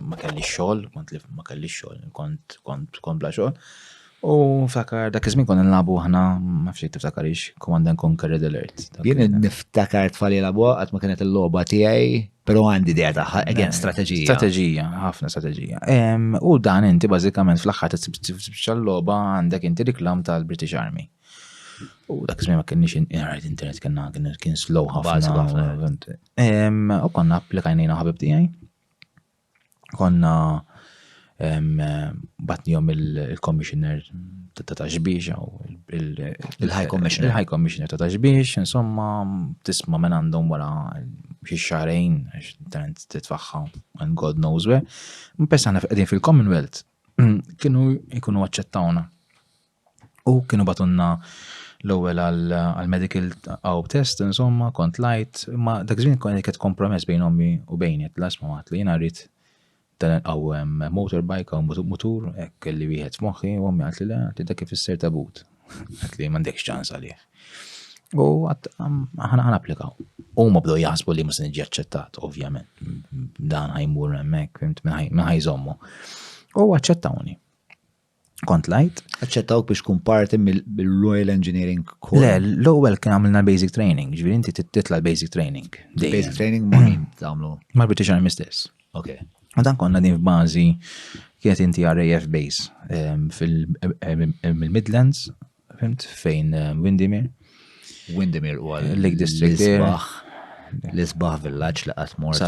ma kellix xogħol, kont li ma kellix xogħol, kont kont kont bla xogħol. U nftakar dak iż-żmien konna nlabu aħna, ma fxejt tiftakarix, Command and Conquer Red Alert. Jien niftakar tfali labu qatt ma kienet il-logħba tiegħi, però għandi idea tagħha, again strateġija. Strateġija, ħafna strateġija. U dan inti bażikament fl-aħħar tibxa l-logħba għandek inti reklam tal-British Army. U dak iż-żmien ma kienx inqrajt internet kien kien slow ħafna. U konna applikajnejna ħabib tiegħi Konna batnihom il-commissioner ta' taxbiex, il-high commissioner. Il-high commissioner ta' taxbiex, insomma, tisma minn għandhom wara xi xarejn, tant titfaħħa, and God knows where. Mpessa għana fil-Commonwealth, kienu jkunu għacċettawna. U kienu batunna l-ewwel għal-medical għaw test, insomma, kont lajt, ma dak żmien kont qed kompromess bejn ommi u bejni, qed lasma ma li jiena rrid dan għaw motorbike għaw mutur, hekk kelli wieħed f'moħħi, u ommi għatli le, għatli dak ifisser tabut. Għatli m'għandekx ċans għalih. U ħana applikaw. U ma bdew jaħsbu li musin ġi aċċettat, ovvjament. Dan ħajmur hemmhekk, minn ħajżommu. U aċċettawni. kont lajt. Aċċettawk biex tkun parti mill-Royal Engineering Corps? Le, l-ewwel kien għamilna basic training, ġifieri inti titla l-basic training. Basic training ma' min tagħmlu? Mal-British Army stess. Ok. U dan konna din f'bażi kienet inti RAF base ehm, fil-Midlands, ehm, Fimt fejn eh, Windimir? Windimir u għal Lake District. L-isbaħ villaġġ li qatt mort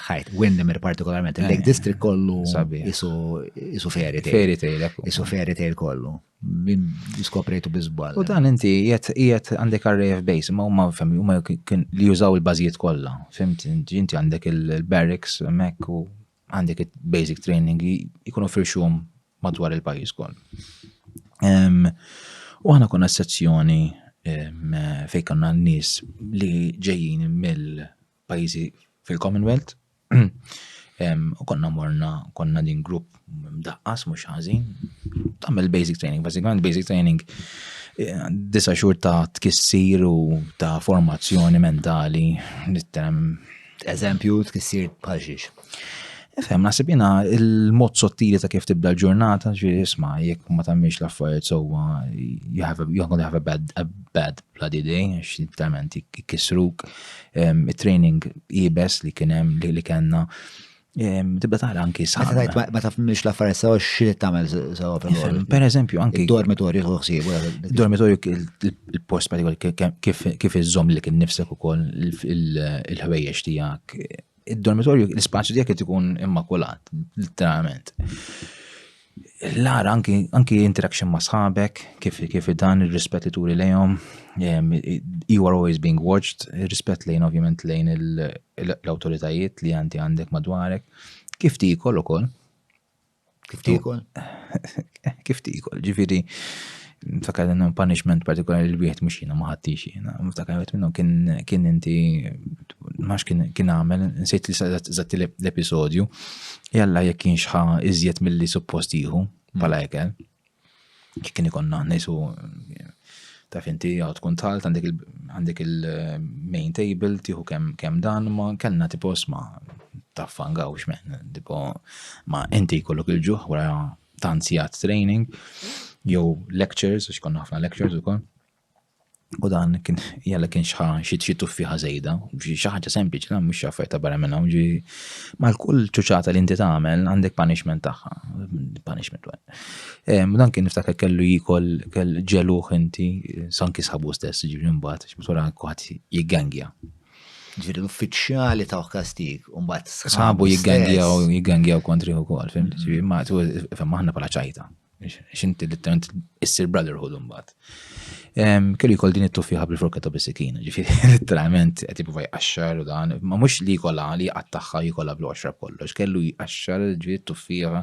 ħajt. Windimir partikolarment, il-Lake eh, District kollu isu fairy tale. Fairy tale, Isu fairy tale kollu. Min diskoprejtu bizbal. U dan inti jiet għandek RAF base, ma huma femmi, huma li jużaw il-bażijiet kollha. Fimt, inti għandek il-barracks, mek u għandek basic training jkunu firxum madwar il-pajis kol. U għana konna sezzjoni fej konna n-nis li ġejjin mill-pajizi fil-Commonwealth. U konna morna, konna din grupp mdaqqas, mux ħazin. Tammel basic training, bazzikament basic training disa xur ta' tkissir u ta' formazzjoni mentali, nittem Eżempju, tkissir bħal xiex. Fem, nasib jina il-mod sottili ta' kif tibda l-ġurnata, ġi isma, jek ma tammiex l-affarijiet sowa, you have a, you're gonna have a bad, a bad bloody day, għax literalment jikisruk. Il-training ibes li kienem li kena Tibda tara anki sa. Ma taf mhix l-affarijiet sewa xi tagħmel sewa fil Per eżempju anki. Dormitorju ħsieb. Dormitorju il-post kif iżżomm li kien nifsek ukoll il-ħwejjeġ tiegħek. Id-dormitorju l-ispazju tiegħek qed ikun immakulat, literalment. l-għar anki, anki interaction ma' sħabek, kif, kif dan il-rispet li turi lejhom, you are always being watched, rispet lejn ovvjament lejn l-autoritajiet li għanti għandek madwarek, kif tikol u kol. Kif tikol? kif tikol, ġifiri, Niftakar li hemm punishment partikolari li wieħed mhux jiena ma ħadtix jiena. Niftakar wieħed minnhom kien inti ma kien għamel, nsejt li żatt l-episodju, jalla jekk kien xħa iżjed milli suppost jieħu bħala mm. ekel. Kien ikonna ngħisu taf inti għaw tkun talt għandek il-main table tieħu kemm dan ma kellna tipo sma' taffangaw xmen, tipo ma inti kollok il-ġuħ wara ta' ansijat training jew lectures, għax konna ħafna lectures ukoll. U dan kien jalla kien xi xi tuffiħa żejda, xi ħaġa sempliċi dan mhux xaffaj ta' barra minn hawn ġi mal kull ċuċata li inti tagħmel għandek punishment tagħha, punishment wet. Dan kien niftakar kellu jikol kell ġeluħ inti sanki sabu stess ġifieri mbagħad x'msura kuħadd jiggangja. Ġifieri l-uffiċjali ta' kastig u mbagħad sħabu jiggangjaw jiggangjaw kontri wkoll, fim? Mm-hmm. Ġifieri ma fem aħna bħala ċajta. X'inti li tant issir brotherhood imbagħad. Kelli jkoll din it-tuffiħa bil-forka ta' bisikin, ġifieri literalment qed jibqa' jqaxxar u dan, ma mhux li jkollha li qattaħħa jkollha bl-għoxra kollox, kellu jqaxxar ġifieri t-tuffiħa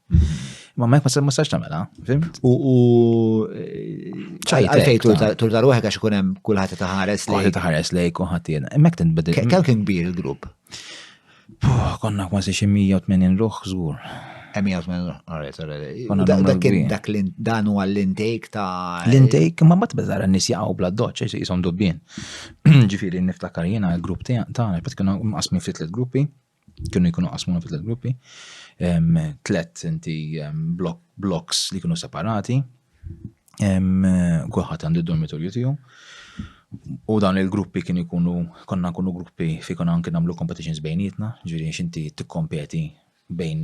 Ma ma ma sax tamela, fimt? U u ċajtejt tur dar waħek għax ikun hemm kulħadd ta' ħares lejk. Kulħadd ta' ħares lejk u ħadd jiena. Hemmhekk tinbidel. Kemm kien kbir il-grupp? Konna kważi xi 180 ruħ żgur. 180 ruħ, alright, alright. Dak dan huwa l-intake ta' l-intake ma mbagħad beżara n-nies jaqgħu bla doċċ għax ishom dubbien. Ġifieri niftakar jiena l-grupp tagħna, qed kienu mqasmin ftit gruppi. kienu jkunu qasmuna fi tliet gruppi, tliet inti blocks li kienu separati, kulħadd għandu d-dormitorju tiegħu. U dan il-gruppi kienu jkunu, konna nkunu gruppi fi konna anki nagħmlu competitions bejnietna, ġifieri x'inti tikkompeti bejn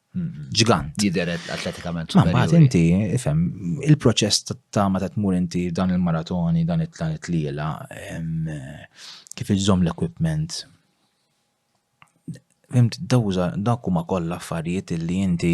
ġgant. Jidher atletikament. Ma mbagħad inti, ifhem, il-proċess ta' ma ta' tmur inti dan il-maratoni, dan it-tlan it-tliela, kif iżżomm l-equipment. Fimt, dawza, dak huma kollha affarijiet li inti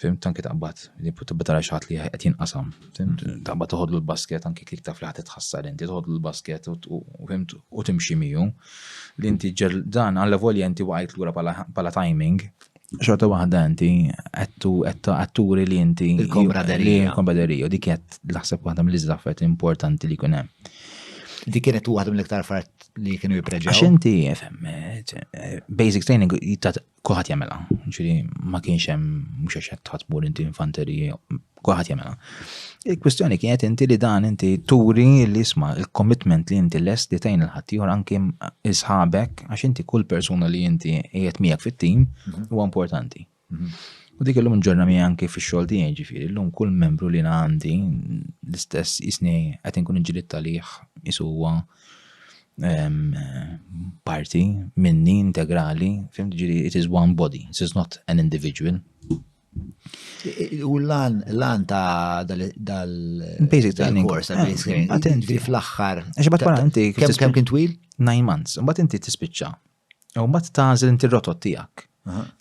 Fim, tanki taqbad, li tibba tara xaħat li qed jinqasam. Fim, mm. taqbad toħodlu l-basket, anki klik taf li ħadd tħassar inti, toħodlu l-basket u fim u timxi miegħu. Li inti ġer dan għalla volja inti waqajt lura pala timing, xorta waħda inti għattu għatturi li inti il-kombraderija. Il-kombraderija, dik għat laħseb waħda mill-izzaffet importanti li kunem. Dik kienet waħda mill-iktar fart li kienu jipreġaw. Għax inti, eh, basic training jittat Kulħadd jagħmilha, ġifieri ma kienx hemm mhux għax qed tħassbu li inti infanterija, kulħadd jagħmilha. Il-kwistjoni kienet inti li dan inti turi li isma' il-commitment li inti lest li tgħin il-ħaddieħor anke isħabek għax inti kull persuna li inti qiegħed miegħek fit-tim mhm. huwa importanti. Mhm. U dik illum ġorna mi anke fi xogħol tiegħi ġifieri, illum kull membru li għandi l-istess isni qed inkun inġilit talih isu huwa parti minni integrali, fim ġiri, it is one body, it is not an individual. U l-lan, l-lan ta' dal-basic training course, ta' basic training, għatin fl-axħar. Għax bat wara inti. Kem kien twil? Nine months. Bat inti tispiċċa. U mbagħad tażel inti r-rotot tiegħek.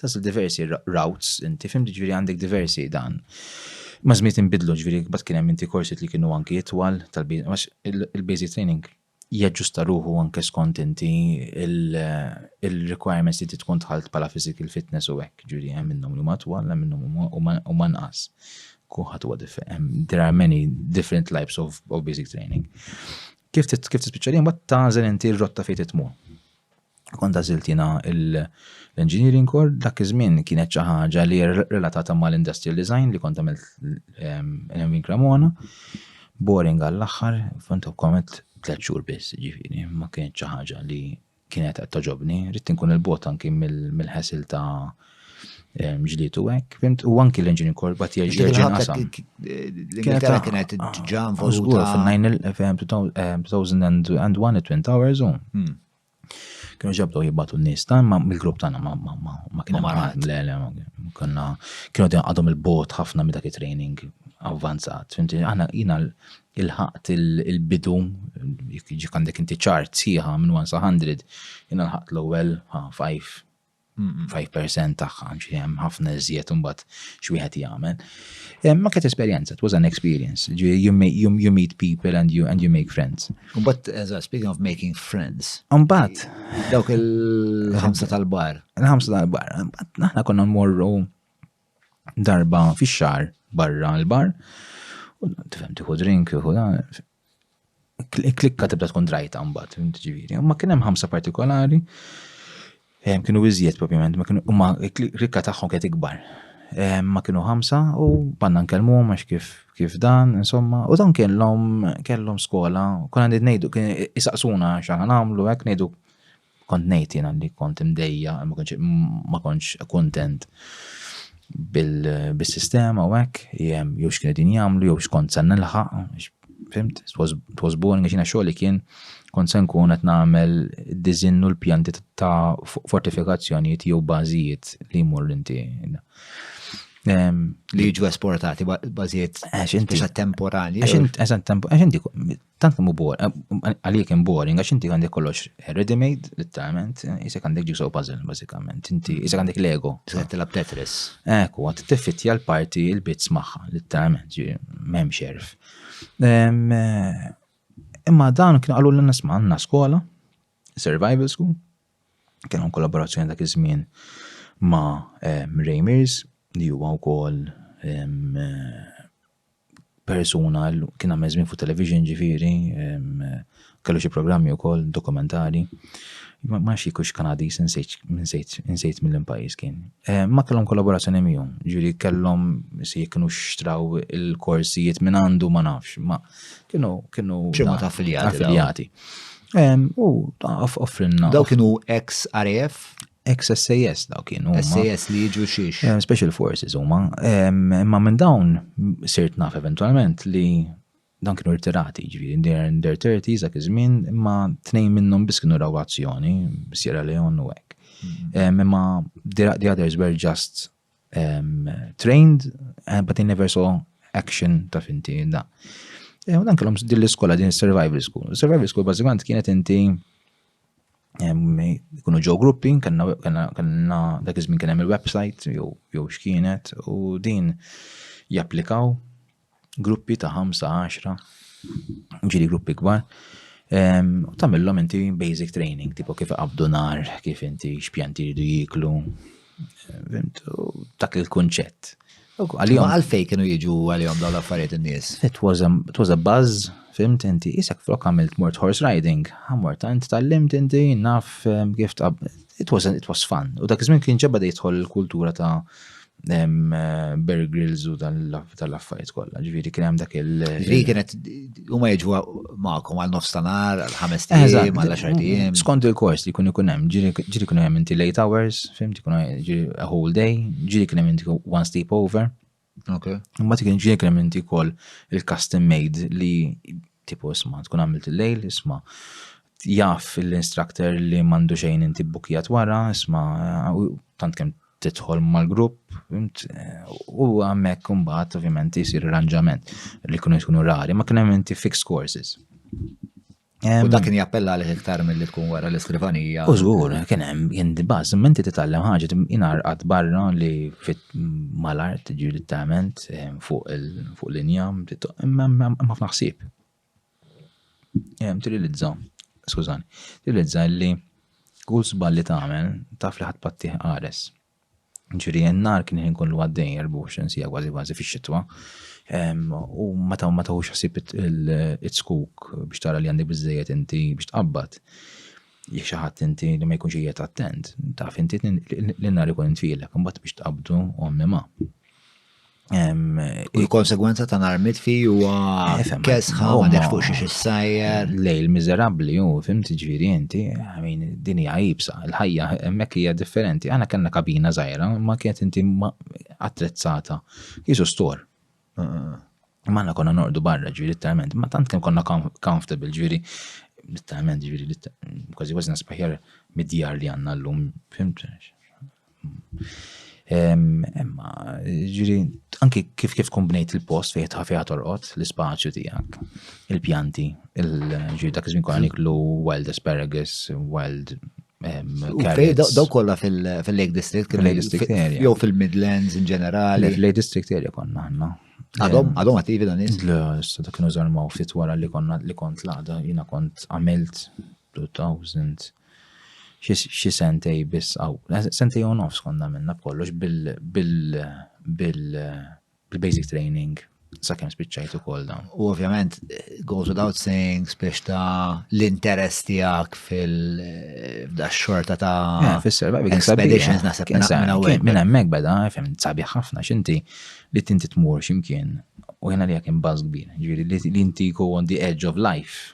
Tażel diversi routes inti fim ġifieri għandek diversi dan. Ma żmiet inbidlu ġifieri bad kien hemm inti korsit li kienu anki itwal tal-biex il-basic training jaġġusta ruħu anke skont inti il-requirements li tkun tħalt bħala physical fitness u hekk ġifieri hemm minnhom li ma twal, hemm minnhom u ma nqas. Kuħat huwa differenti. There are many different types of, of basic training. Kif kif tispiċċa li mbagħad tagħżel inti r-rotta fejn titmur. Kont għażilt jiena l-engineering kor dak iż-żmien kienet xi ħaġa li relatata mal-industrial design li kont għamilt ehm, l-Envin Cremona. Boring għall-aħħar, font komet tliet xhur biss, ġifieri, ma kienet xi ħaġa li kienet qed toġobni, rrid inkun il-bot anki mill-ħasil ta' ġlitu hekk, fimt, u anki l-engine korba tiegħi ġerġa' nqasam. L-Ingilterra kienet ġa involuta fil-2001 Twin Towers u hmm. kienu ġabdu jibbatu n-nies ta' ma mill-grupp tagħna ma ma kienu marat. Le le konna kienu għadhom il-bot ħafna minn dak it-training avvanzat. Fimti, aħna jina ilħaqt il-bidu, jekk għandek inti ċart sħiħa minn 1 sa 100, jien ilħaqt l-ewwel 5 5% tagħha, xi hemm ħafna iżjed imbagħad xi wieħed jagħmel. Eh, ma kienet esperjenza, it was an experience. You, you, you meet people and you and you make friends. But as I speaking of making friends. Mbagħad dawk il-ħamsa tal-bar. Il-ħamsa tal-bar. Aħna konna mmorru darba fix-xahar barra l-bar, u tifhem tieħu drink, tieħu klikka tibda tkun drajta mbagħad, ġifieri. Ma kien hemm ħamsa partikolari, kienu iżjed propjament, ma klikka tagħhom kienet ikbar. Ma kienu ħamsa u banna nkellmu għax kif kif dan, insomma, u dan kellhom kellhom skola, konna ngħidu kien isaqsuna x'aħna nagħmlu hekk ngħidu Kont ngħid jiena li kont imdejja, ma kontx kuntent bis-sistema u hekk, jew x'kienu din jagħmlu, jew x'kont se nilħaq, fimt, it was boring għax jiena xogħli kien kont se nkun qed nagħmel id-diżinn u l-pjanti ta' fortifikazzjonijiet jew bażijiet li jmur inti. Ehm, li jiġu esportati bażijiet eh, għax inti temporali. Għax inti tant kemm bor, għalik hemm boring, għax inti għandek kollox ready made, literalment, jisek għandek ġiso puzzle, bażikament, inti jisek għandek Lego. Tista' tilab Tetris. Ekku, għat tiffittja l-parti il-bits magħha, literalment, m'hemm xerf. Imma dan kien qalu l-nisma għandna skola, survival school, kienu kollaborazzjoni dak iż-żmien ma' Raymers, li huwa wkoll persuna kien għamel żmien fuq television ġifieri, kellu xi programmi wkoll dokumentari. Ma nafx jekk hux Kanadiż insejt mill pajjiż kien. Eh, ma kellhom kollaborazzjoni miegħu, ġifieri kellhom se jekk kienu xtraw il-korsijiet minn għandu ma nafx, ma kienu kienu affiljati. U offrinna. Daw kienu ex RAF? Ex-SAS daw kienu. SAS li jiġu xiex. Eh, special Forces huma. Imma minn dawn sirt naf eventualment li dan kienu rtirati, ġviri, in their, in their 30s, dak iż-żmien, imma tnejn minnhom biss kienu raw azzjoni, Sierra Leone u hekk. Mm-hmm. Imma the others were just um, trained, eh, but they never saw action ta' finti, da. Eh, u dan kellhom din l-iskola, din survival school. Survival school bażikament kienet inti kunu ġew gruppi, kanna dak iż-żmien kien hemm il-website jew x'kienet u din japplikaw gruppi ta' 5-10, ġiri gruppi kbar, u tamillom inti basic training, tipo kif qabdu nar, kif inti xpjanti jridu jiklu, dak il-kunċett. Għalijom għalfej kienu jiġu għalijom daw l-affarijiet n-nies. It was a, it was a buzz, fimt inti, isek flok għamilt mort horse riding, għamort għant tal-limt inti, naf kif tab, it was, it was fun. U dak iż-żmien kien ġabba jidħol il-kultura ta' Bear Grylls u tal-affarijiet kollha. Ġifieri kien hemm dak il. Ġifieri kienet huma jiġu magħkom għal nofs tanar, għal ħames tiem, għal għaxar tiem. Skont il-kors li kun ikun hemm, ġieli kun hemm inti late hours, fimti kun a whole day, ġieli kun hemm inti one sleep over. Ok. Imma tikin ġieli kun hemm inti kol il-custom made li tipo isma' tkun għamilt il-lejl, isma' jaf l-instructor li mandu xejn inti bukijat wara, isma' tant kem tidħol mal-grupp, fimt, u għammek kumbat, ovvjament, jisir arranġament li kunu jkunu rari, ma kienem inti fixed courses. U dak kien jappella għalih iktar mill-li tkun wara l-iskrivanija. U żgur, kien hemm kien dibaż, imma inti titgħallem ħaġa inarqad barra li fit mal-art ġieli tament fuq l-injam, imma ħafna ħsieb. Ehm, trilizza, skużani, trilizza li kull żball li tagħmel taf li ħadd pattih qares. Ġifieri n-nar kien ħin kollu għaddej 24 sija kważi kważi fix-xitwa. Ehm, u ma taw ma tawx ħsib it-skuk biex tara li għandek biżejjed inti biex tqabbad. Jekk xi ħadd inti li ma jkunx qiegħed attent, taf inti li n-nar ikun intfielek, imbagħad biex tqabdu ommi ma. Il-konsegwenza ta' nar mitfi huwa kesħa ma nafx fuq xiex issajjer. Lej il-miżerabbli hu fimt ġifieri inti, għamin din hija ibsa, il-ħajja hemmhekk hija differenti. Aħna kellna kabina żgħira ma kienet inti attrezzata. Jisu stor. Manna konna nordu barra ġifieri literalment, ma tant kemm konna comfortable ġifieri literalment ġifieri kważi kważi nasbaħjar mid-djar li għandna llum, fimt? Imma, ġiri, anki kif kif tkun bnejt il-post fejn ħafija torqod, l-ispazju tiegħek, il-pjanti, il-ġiri dak iż-żmien konna niklu wild asparagus, wild carrots. Daw kollha fil-Lake District, fil-Lake District area. Jew fil-Midlands in ġenerali. Fil-Lake District area konna ħanna. Għadhom, għadhom għativi dan is? Le, issa dak kienu żarmaw fit wara li konna li kont l-għada, jina kont għamilt 2000, xi sentej biss hawn, sentej u nofs konna minna b'kollox bil-basic training sakemm spiċċajt ukoll dawn. U ovvjament goes without saying biex ta' l-interess tiegħek fil-xorta ta' eh, fis-serba expeditions naħseb minn hemmhekk beda, fem sabiħ ħafna x'inti li tinti tmur x'imkien u jena li jekk imbaż kbir, ġifieri li inti go on the edge of life